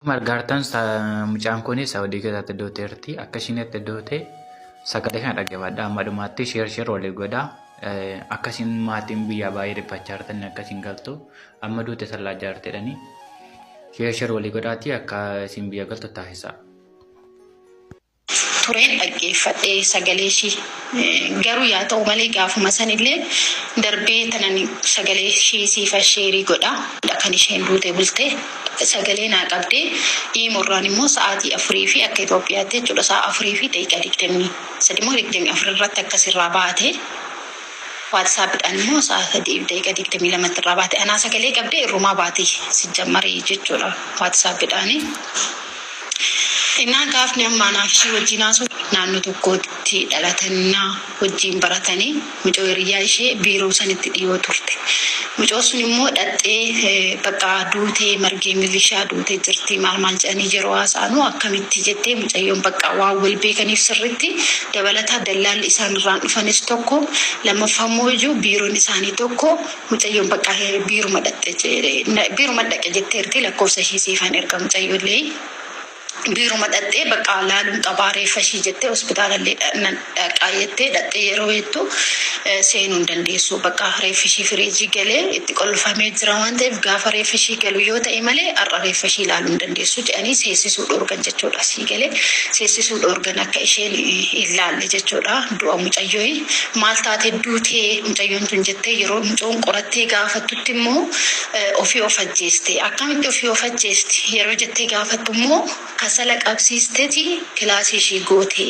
Akkuma argaa jirtan mucaan kun Saawudii keessatti doote jirti. Akka ishiin itti doote sagalee kana dhaggeeffadha. Amma dhumaatti sheer sheer waliif godha. Akka ishiin maatiin biyyaa baay'ee dhiphachaa jirtan akka ishiin galtu amma duute sallaa jaartedhani. Sheer sheer walii godhaati akka ishiin biyya galtu taasisa. tureen dhaggeeffadhe sagalee ishii. Garuu yaa ta'u malee gaafuma sanillee darbee tanan sagalee ishii siifan sheerii godha. Kan isheen duute bulte sagalee naa qabde iimo irraan immoo sa'aatii afurii fi akka Itoophiyaatti jechuudha sa'a afurii fi daqiiqaa digdamii sadii moo digdamii afur irratti akka sirraa baate. WhatsApp dhaan immoo sa'a 3:22 tti irraa baate anaa sagalee qabdee irrumaa baati sijjammari jechuudha WhatsApp dhaan innaan gaafni amma anaaf ishii wajjiin haasoo naannoo tokkootti dhalatannaa wajjiin baratanii mucoo hiriyyaa ishee biiroo sanitti dhiyoo turte Mucoon sun immoo dhaxxee bakka duutee margee milishaa duute jirti maal maal jedhanii yeroo haasa'anu akkamitti jettee mucayyoon bakka waan wal beekaniif sirritti dabalataa dallaalli isaan irraan dhufanis tokko lammaffaa immoo iyyuu biiroon isaanii tokko mucayyoon bakka biiruma dhaqxe biiruma dhaqe jetteerti lakkoofsa ishee siifan erga mucayyoollee Biiruma dhaqxee baqqaa laaluun qabaa reeffa ishii jettee hospitaalallee nan dhaqaa jettee dhaqxee yeroo jettu seenuu hin dandeessu. Baqqaa reeffi ishii firiijii galee itti qollfamee jira waan ta'eef gaafa reeffi ishii galu yoo ta'e malee har'a reeffa ishii laaluu hin dandeessu jedhanii seessisuu dhoorgan jechuudha. Sii galee? Seessisuu dhoorgan akka isheen hin laalle jechuudha. Du'a mucayyoi maal taate duutee mucayyoon tun jettee yeroo mucoon qorattee gaafattutti immoo Ofii of ajjeeste. Akkamitti ofii of ajjeesti? Yeroo jettee gaafattu immoo kasala qabsiisteti kilaasii ishii goote.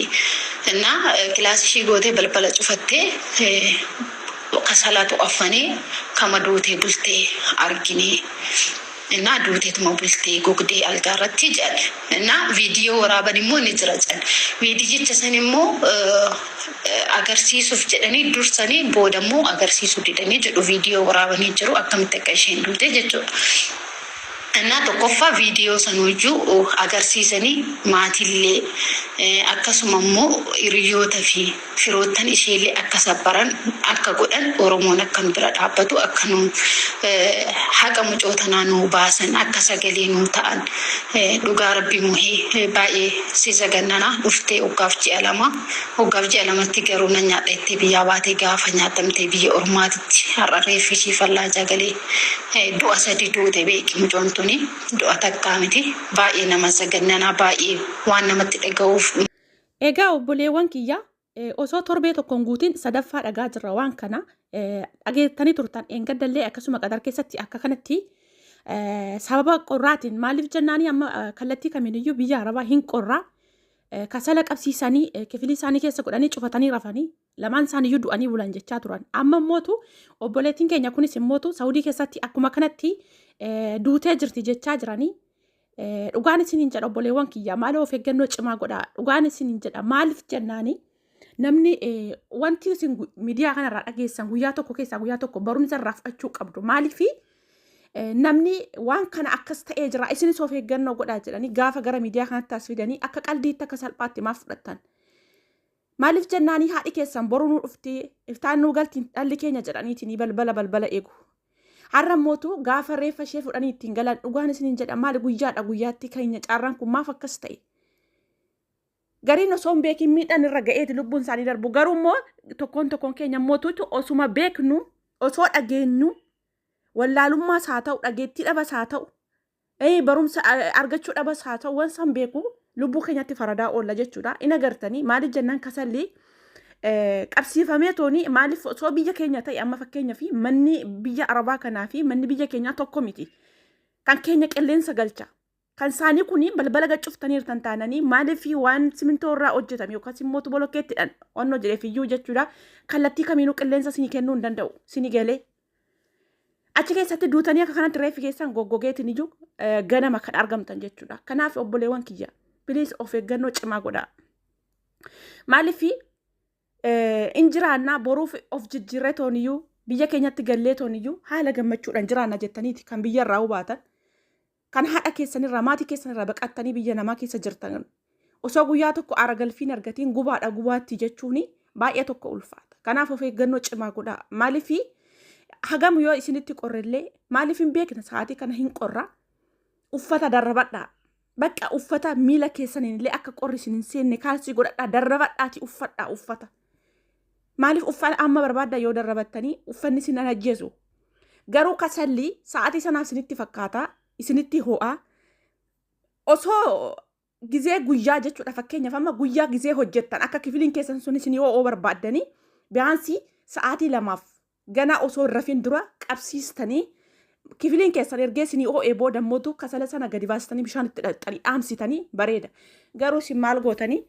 Innaa kilaasii ishii gootee balbala cufattee kasalatu affanee kama duutee bulte argine. Innaa duuteetuma bultee gogdee algaarratti jedhan. Innaa viidiyoo waraaban immoo ni jira jedhan. Viidiyicha san immoo agarsiisuuf jedhanii dursanii booda immoo agarsiisuu didanii jedhu viidiyoo waraabanii jiru akkamitti akka isheen duute jechuudha. Innaa tokkoffaa viidiyoo sanuyyuu agarsiisanii maatiillee akkasuma immoo hiriyoota fi firoottan isheellee akka sabbaran akka godhan oromoon akka nu bira dhaabbatu akka nu haqa mucoo tanaa nuu baasan akka sagalee nuu ta'an dhugaa rabbii muhee baay'ee si zagannana dhuftee oggaaf ji'a lama oggaaf ji'a lamatti garuu nan nyaadha jettee biyyaa baatee gaafa nyaatamtee biyya ormaatitti har'a reeffi ishii fallaajaa galee du'a sadi duute beeki mucoon tuni du'a takkaa miti baay'ee nama zagannanaa baay'ee waan namatti dhaga'uuf Egaa obboleewwan kiyya osoo torbee tokko hin guutin sadaffaa dhagaa jirra waan kana dhageettanii turtan eengaddallee akkasuma qadar keessatti akka kanatti sababa qorraatiin maaliif jennaanii amma kallattii kamiiniyyuu biyya arabaa hin qorraa kasala qabsiisanii kifilii isaanii keessa godhanii cufatanii rafanii lamaan isaaniyyuu du'anii bulan jechaa turan. Amma immootu obboleettiin keenya kunis immootu Saawudii keessatti akkuma kanatti duutee jirti jechaa jiranii. Dhugaan isin hin jedha obboleewwan kiyya maaloo of eeggannoo cimaa godhaa. Dhugaan isin hin jedha maaliif jennaani namni wanti isin miidiyaa kanarraa dhageessan guyyaa tokko keessaa guyyaa tokko barumsa irraa fudhachuu qabdu maaliifi namni waan kana akkas ta'ee jira isinis of eeggannoo godhaa jedhanii gaafa gara miidiyaa kanatti as fidanii akka qaldiitti akka salphaatti maaf fudhattan. Maaliif jennaanii haadhi keessan boru nuu dhufti iftaan nuu galti dhalli keenya jedhaniitinii balbala balbala eegu. Har'a mootu gaafa reeffa ishee fudhanii ittiin galan dhugaan isiniin jedha maali guyyaadha guyyaatti keenya carraan kun maaf akkas ta'e. Gariin osoo hin beekin miidhaan irra ga'eeti lubbuun isaanii darbu garuu immoo tokkoon tokkoon keenya mootuutu osuma beeknu osoo dhageenyu wallaalummaas haa ta'u dhageettii dhabas haa ta'u Ee, barumsa a- argachuu dhabas haa ta'u waan isaan beeku lubbuu keenyatti faradaa oolla jechuudha. In agartanii maaliif jennaan kasalli eh, qabsiifamee tooni maaliif osoo biyya keenya ta'e amma fakkeenya fi manni biyya arabaa kanaa fi manni biyya keenyaa tokko miti. Kan keenya qilleensa galcha. Kan isaanii kun balbala gad cuftaniirtan taananii maaliif waan simintoo irraa hojjetame yookaas immoo tuboo lokkeettidhaan waan hojjeteef iyyuu jechuudha. Kallattii kamiinuu qilleensa isinii kennuu hin danda'u. Isinii galee Achi keessatti duutanii akka kanatti reeffi keessan goggogeetiin iyyuu eh, ganama kan argamtan jechuudha. Kanaaf obboleewwan kiyya piliis of eeggannoo cimaa godhaa. Maaliif eh, in jiraannaa boruuf of jijjiirree tooniyyuu biyya keenyatti gallee tooniyyuu haala gammachuudhaan jiraanna jettaniiti kan biyya irraa hubaatan. Kan haadha keessan irraa, maatii keessan irraa baqattanii biyya namaa keessa jirtan osoo guyyaa tokko aara galfiin argatiin gubaadha gubaatti jechuun baay'ee tokko ulfaata. Kanaaf of eeggannoo cimaa godhaa. Maaliif hagam yoo isinitti qorrellee maaliif hin beekna sa'aatii kana hin qorra uffata darrabadhaa. Bakka uffata miila keessaniin illee akka qorri isin hin seenne kaalsii godhadhaa darrabadhaati uffadhaa uffata. Maaliif uffata amma barbaadda yoo darrabattanii uffanni isin hin ajjeesu. Garuu kasalli sa'aatii sanaa isinitti fakkaata, isinitti ho'a. Osoo gizee guyyaa jechuudha fakkeenyaaf amma guyyaa gizee hojjettan akka kifiliin keessan sun isin ho'oo barbaaddanii biyaansii sa'aatii lamaaf Ganaa osoo hin rafiin dura qabsiistanii kifiliin keessan ergee isinii oo'ee booda immoo kasala sana gadi baastanii bishaan itti dhaxxanii dhaamsitanii bareeda. Garuu isin maal gootanii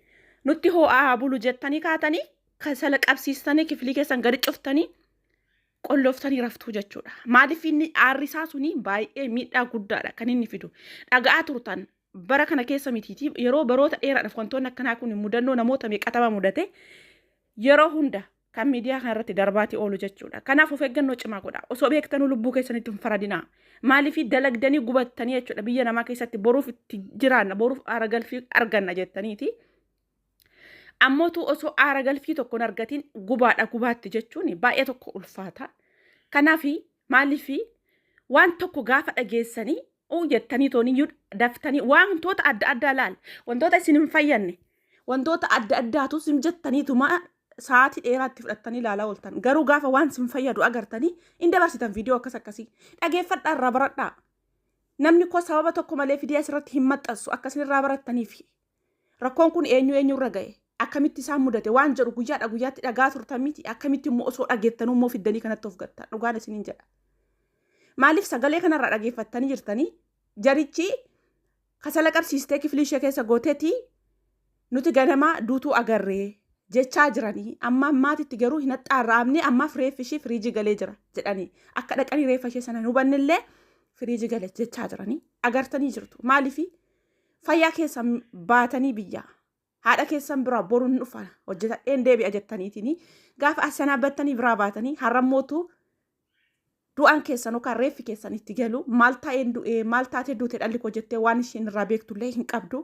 nutti hoo'aa haa bulu jettanii kaatanii kasala qabsiistanii kifilii keessan gadi cuftanii qollooftanii raftuu jechuudha. Maaliif inni aarrisaa suni baay'ee miidhaa guddaadha kan inni fidu. Dhaga'aa turtan bara kana keessa mitiiti yeroo baroota dheeraadhaaf wantoonni akkanaa kun mudannoo namoota meeqatama mudate yeroo hunda kan miidiyaa kana irratti darbaatii oolu jechuudha. Kanaaf of eeggannoo cimaa godha. Osoo beektanuu lubbuu keessanitti hin faradinaa. Maaliif dalagdanii gubattanii jechuudha biyya namaa keessatti boruuf itti jiraanna boruuf aara galfii arganna jettaniiti. Ammootu osoo aara galfii tokko hin argatiin gubaadha gubaatti jechuun baay'ee tokko ulfaata. Kanaaf maaliif waan tokko gaafa dhageessanii uu jettanii tooniyyuu daftanii wantoota adda addaa laal wantoota isin hin fayyanne wantoota adda addaatu isin jettaniituma sa'aatii dheeraatti fudhattanii ilaalaa ooltan garuu gaafa waan isin fayyadu agartanii hin dabarsitan viidiyoo akkas akkasii dhageeffadhaa irraa baradhaa namni koo sababa tokko malee fidee asirratti hin maxxansu akka isin irraa barattaniif Rakkoon kun eenyu eenyurra ga'e? Akkamitti isaan mudate? Waan jedhu guyyaadha guyyaatti dhagaa turtan miti. Akkamitti immoo osoo dhageettanuu immoo fiddanii kanatti of gattan? Dhugaan isiniin jedha. Maaliif sagalee kanarraa dhageeffattanii jirtanii? Jarichi kasala qabsiistee kiflii ishee keessa gooteeti nuti ganamaa duutuu agarree jechaa jiranii amma ammaatitti garuu hin haxxaarraamne ammaaf reeffi ishii firiijii galee jira jedhanii akka dhaqanii reeffa ishee sana hin hubannillee firiijii gale jechaa jiranii agartanii jirtu maaliifi Fayyaa keessan baatanii biyya haadha keessan biraa boruun dhufa hojjetadheen deebi'a jettaniitiin gaafa as sanaa battanii biraa baatanii har'a mootu du'aan keessan yookaan reeffi keessan itti galu maal taa'een du'ee maal taatee duute dhalli koo jettee waan isheen irraa beektullee hin qabdu.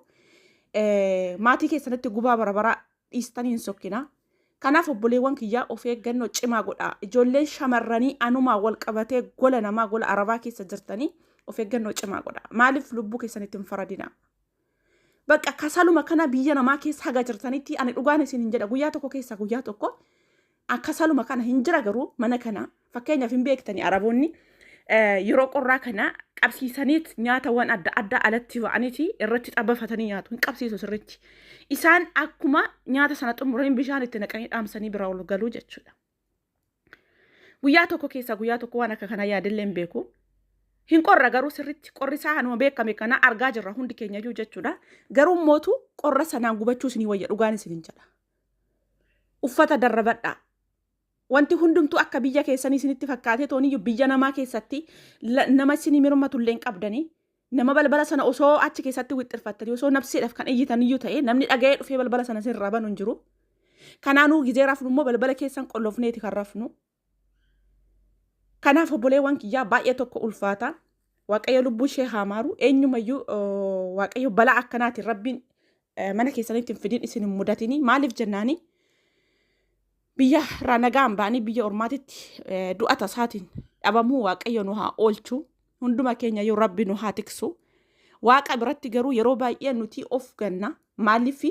Maatii keessanitti gubaa barabaraa dhiistanii hin sokkinaa. Kanaaf obboleewwan kiyyaa of eeggannoo cimaa godhaa. Ijoolleen shamarranii anumaa wal qabatee gola namaa gola arabaa keessa jirtanii of eeggannoo cimaa godhaa. Maaliif lubbuu keessanitti hin faradinaa? Bakka kasaluma kana biyya namaa keessa haga jirtanitti ani dhugaan isin hin jedha guyyaa tokko keessa guyyaa tokko Akkasaluma kana hin jira garuu mana kana fakkeenyaaf hin beektanii araboonni eh, yeroo qorraa kana qabsiisaniit nyaatawwan adda addaa alatti ba'aniiti irratti xabafatanii nyaatu hin qabsiisu sirriitti. Isaan akkuma nyaata sana xumuranii bishaan itti naqanii dhaamsanii bira ol galuu jechuudha. Guyyaa tokko keessaa guyyaa tokko waan akka kanaa yaadillee hin beeku. Hin qorra garuu sirriitti qorri isaa hanuma beekame kana argaa jirra hundi keenya iyyuu jechuudha. Garuu mootu qorra sanaan gubachuus ni wayya dhugaan isin hin jedha. uffata darrabadhaa. Wanti hundumtuu akka biyya keessanii isinitti fakkaatee tooniyyu biyya namaa keessatti nama isinii mirmatullee hin qabdanii. Nama balbala sana osoo achi keessatti wixxirfattanii osoo nabseedhaaf kan iyyitaniyyuu ta'e namni dhaga'ee dhufee balbala sana isinirraa banu hin jiru. Kanaanuu gizee rafnu immoo balbala keessan qollofneeti kan rafnu. Kanaaf obboleewwan kiyyaa baay'ee tokko ulfaata. Waaqayyo lubbuu ishee haa maaru. Eenyumayyuu waaqayyo balaa akkanaatiin rabbiin mana keessanitti hin fidin isin hin mudatinii. Maaliif jennaanii? Biyya irraa nagaan ba'anii biyya ormaatitti du'a tasaatiin dhabamuu waaqayyo nu haa oolchu. Hunduma keenya yoo rabbi nu haa tiksu. Waaqa biratti garuu yeroo baay'ee nuti of ganna. Maaliif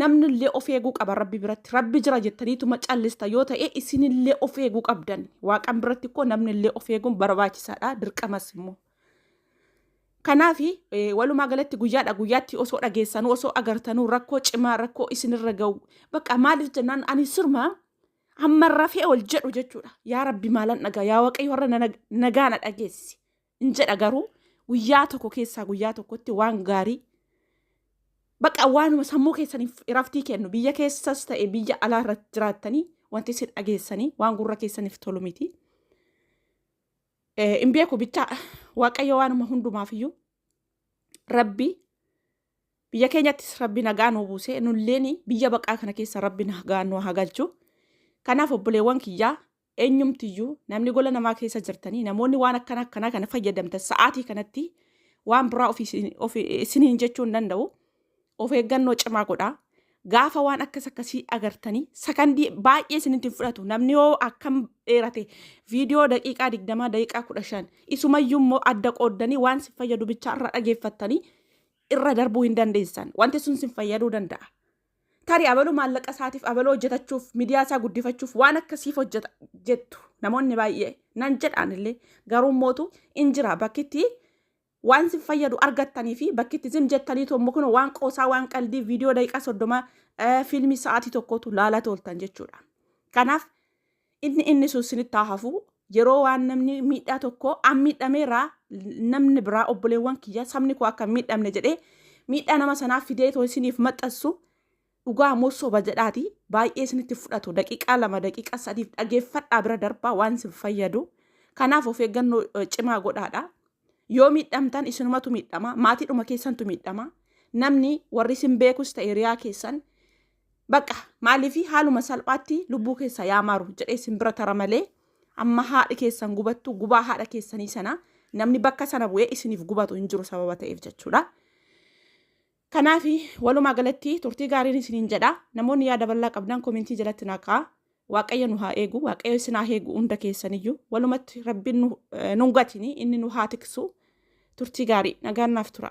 Namni illee of eeguu qaba rabbi biratti. Rabbi jira jettaniituma callista yoo ta'e isin illee of eeguu qabdan. Waaqan biratti ikkoo namni illee of eeguun barbaachisaadha dirqamas immoo. Kanaaf walumaa galatti guyyaadha guyyaatti osoo dhageessanuu osoo agartanuu rakkoo cimaa rakkoo isinirra ga'u bakka maaliif jennaan ani sirma hamma rafee ol jedhu jechuudha yaa rabbi maalan dhagaa yaa waaqayyo har'a na- nagaa na dhageessi hin jedha garuu guyyaa tokko keessaa guyyaa tokkotti waan gaarii baqa waanuma sammuu keessaniif iraftii kennu biyya keessas ta'e biyya alaa irratti jiraattanii wanti isin dhageessanii waan gurra keessaniif tolu miti. Hin beeku bichaa waaqayyo waanuma hundumaaf iyyuu rabbi biyya keenyattis rabbi nagaa nu buusee nulleen biyya baqaa kana keessa rabbi nagaa nu haa galchu. Kanaaf obboleewwan kiyyaa Eenyumtiyyuu namni gola namaa keessa jirtanii namoonni waan akkana akkanaa kana fayyadamtan sa'aatii kanatti waan biraa ofii isin- ofii- isiniin jechuu hin danda'u. Of eeggannoo cimaa godhaa. Gaafa waan akkas akkasii agartanii sakandii baay'ee isinitti hin fudhatu. Namni yoo akkam dheerate viidiyoo daqiiqaa 20 daqiiqaa 15 isumayyuu immoo adda qooddanii waan sin fayyadu bichaa irra dhageeffattanii irra darbuu hin dandeessan. Wanti sun sin fayyaduu danda'a. Tarii abaluu maallaqa isaatiif abaluu hojjetachuuf midiyaa isaa guddifachuuf waan akkasiif hojjeta jettu namoonni baay'ee nan jedhaan illee garuu mootu in jira bakkitti waan sin fayyadu argattanii fi bakkitti zim jettanii tommo kun waan qoosaa waan qaldii viidiyoo daqiiqaa soddoma fiilmii sa'aatii tokkotu laalaa tooltan jechuudha. Kanaaf Inni inni sun sinitti haa hafu. Yeroo waan namni miidhaa tokko an miidhameera namni biraa obboleewwan kiyya sabni koo akka hin miidhamne jedhee miidhaa nama sanaa fidee too isiniif maxxansu dhugaa moo soba jedhaati baay'ee isinitti fudhatu daqiiqaa lama daqiiqaa sadiif dhageeffadhaa bira darbaa waan isin fayyadu kanaaf of eeggannoo eh, cimaa godhaadha yoo miidhamtan isinumatu miidhama maatiidhuma keessantu miidhama namni warri isin beekus ta'e hiriyaa keessan Baqa maaliifi haaluma salphaatti lubbuu keessa yaa maaru jedhee isin bira tara malee amma haadhi keessan gubattu gubaa haadha keessanii sana namni bakka sana bu'ee isiniif gubatu hin jiru sababa ta'eef jechuudha. Kanaaf walumaa galatti turtii gaariin isiniin jedha namoonni yaada bal'aa qabdan komentii jalatti naqaa waaqayyo nu haa eegu waaqayyo isin haa eegu hunda keessaniyyuu walumatti rabbiin nu eh, nun gatini inni nu haa tiksu turtii gaarii nagaan naaf tura.